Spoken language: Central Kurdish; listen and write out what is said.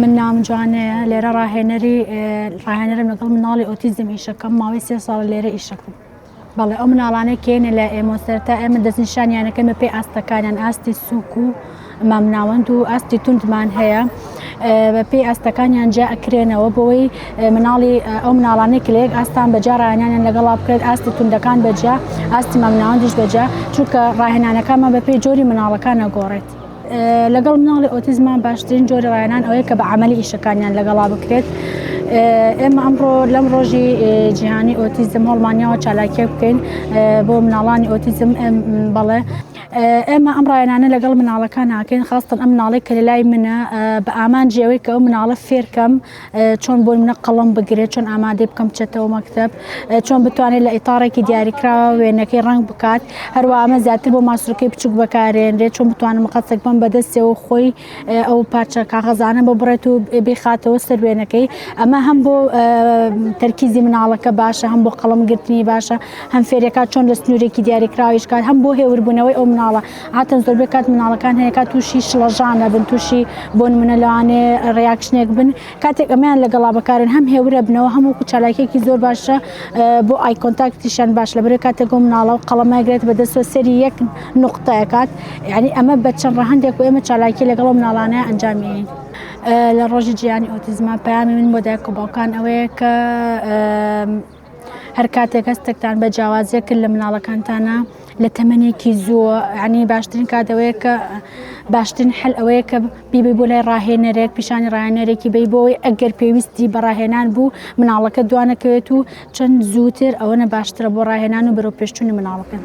من ناوم جوانەیە لێرە ڕاهێنەری ڕاهێنەرم لەگەڵ مناڵی ئۆتیزم ئیشەکەم ماوەی سێ ساڵ لێرە ئیشەکەم بەڵێ ئەو مناڵانە کێنە لە ئێمەسەر تا ئێمە دەستنیشانیانەکەمە پێی ئاستەکانیان ئاستی سوک و مامناوەند و ئاستی توندمان هەیە بەپی ئاستەکانیان جا ئەکرێنەوە بۆی مناڵی ئەو مناڵانەی کە لە یەک ئاستان بەجا ڕایانیان لەگەڵا بکرێت ئاستی توندەکان بەجا ئاستی مامناوەندیش بەجا چونکە ڕاهێنانەکانمان بەپی جۆری مناڵەکانە گۆڕێت. لەگەڵ مناڵی ئۆتیزمان باشترین جۆری ڕایانان ئەوەیە کە بە عملی ئیشەکانیان لەگەڵا بکرێت ئێمە ئەمڕۆ لەم ڕۆژی جیهانی ئۆتیزم هەڵمانیاوە چالاکیە بکەین بۆ مناڵانی ئۆتیزم بەڵێ ئێمە ئەم ڕایانانە لەگەڵ مناڵەکان ناکەین خاستن ئەم مناڵێک کە لەلای منە بە ئامانجی ئەوەی کە ئەو مناڵە فێرکەم چۆن بۆی منە قەڵم بگرێت چۆن ئامادەی بکەم چێتەوە مەکتب چۆن بتوانێت لە ئیتارێکی دیاریکراوە وێنەکەی ڕنگ بکات هەروە ئەمە زیاتر بۆ ماسرەکەی بچوک بەکارێنرێت چۆن بتوانم قەتێک بم بەدەستەوە خۆی ئەو پارچە کاغەزانە بۆ بڕێت و بخاتەوە سەر وێنەکەی ئەمە هەم بۆ تەرکیزی مناڵەکە باشە هەم بۆ قەڵم گرتنی باشە هەم فێرەکە چۆن لە سنوورێکی دیاریکراویش کار هەم بۆ هێوربوونەوەی ئەو مناڵە هاتن زۆر بکات مناڵەکان هەیەکە تووشی شڵەژانە بن تووشی بۆن منە لەوانێ ڕاکشنێک بن کاتێک ئەمەیان لەگەڵا بەکارن هەم هێورەبنەوە هەم وەکو چالاکیەکی زۆر باشە بۆ ئای کۆنتاکتیشان باش لە برێ کاتێک گۆ مناڵە و قەڵەمەگرێت بە دەستوە سەری یەک نقطەکات یعنی ئەمە بە چەند ڕەهندێک و ئێمە چالاکی لەگەڵ مناڵانە ئەنجامی لە ڕۆژی جیانی ئۆتیزما پامی من بۆ دایک و باوکان ئەوەیە کە هەر کاتێک هەستێکتان بە جیاوازیە کرد لە مناڵەکانتانە لە تەمەێکی زووە عنی باشترین کاتەوەیە کە باشترین حل ئەوەیە کە بیبی بۆ لای ڕاهێنەرێک پیشانی ڕاهێنەرێکی بی بۆی ئەگەر پێویستی بەڕاهێنان بوو مناڵەکە دوانەکەوێت و چەند زووتر ئەوەنە باشترە بۆ ڕاهێنان و بەرەو پێشتونی مناڵەکەن.